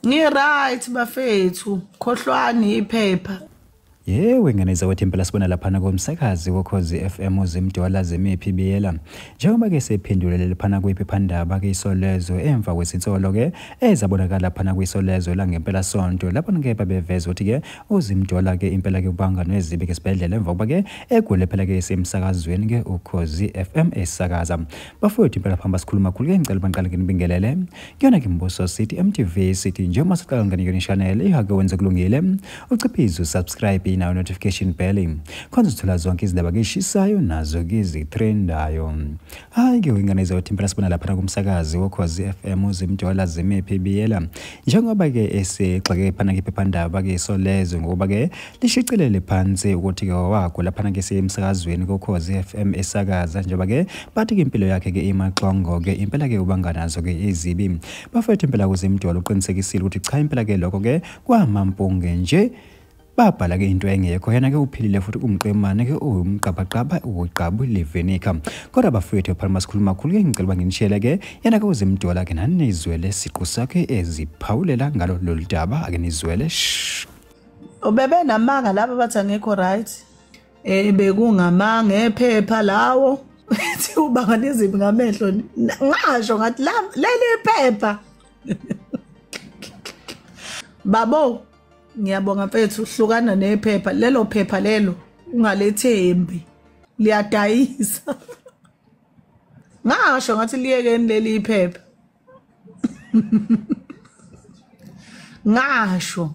Ngi-right bafethu, khohlwani iphepha. Yewe ngane zakwethu impela sibona laphana komsakazi kokhozi FM uzimdwala zemiphi biyela njengoba ke sephendulele laphana kwiphephandaba ke isolezwe emva kwesinsolo ke ezabonakala laphana kwisolezwe langempela sonto lapho ke babeveza ukuthi ke uzimjola ke impela ke ubanga nezibi ke sibhedlela emva kuba ke egule phela ke isemsakazweni ke ukhozi FM esakaza bafowethu impela phamba sikhuluma khulu ke ngicela banqale ke nibingelele kuyona ke mbuso city MTV city nje uma siqala ngani yona channel ihake wenze kulungile uciphize subscribe nayo notification bell khona uthola zonke izindaba ke shissayo nazo ke zitrendayo hayi ke ingane izothi impela sibona lapha kumsakazi wokhozi FM uzimjola zimephi biyela njengoba ke esigxeke phana ke phephandaba ke isolezwe ngoba ke lishicilele phansi ukuthi ke wawakho lapha ke siyemsakazweni kokhozi FM esakaza njengoba ke bathi ke impilo yakhe ke imaxongo ke impela ke ubanganazo ke izibi bafethu impela kuzimjola uqinisekisile ukuthi cha impela ke lokho ke kwamampunge nje babhala ke into engekho yena ke uphilile futhi kumqemane ke uwumqabaqaba uwugqabu levenika kodwa bafowethu phalima sikhulu makhulu ke ngicela uba nginishele ke yena ke uzimdola ke nanizwele siqu sakhe eziphawulela ngalo lolu daba ake nizwele ubebe namanga laba bathi angekho right eh bekungamanga ephepha lawo ethi ubanga nezimbi ngamehlo ngasho ngathi leli phepha babo ngiyabonga mfethu hlukana nephepha lelo phepha lelo ungalethembi liyadayisa ngasho ngathi liyekeni leli iphepha ngasho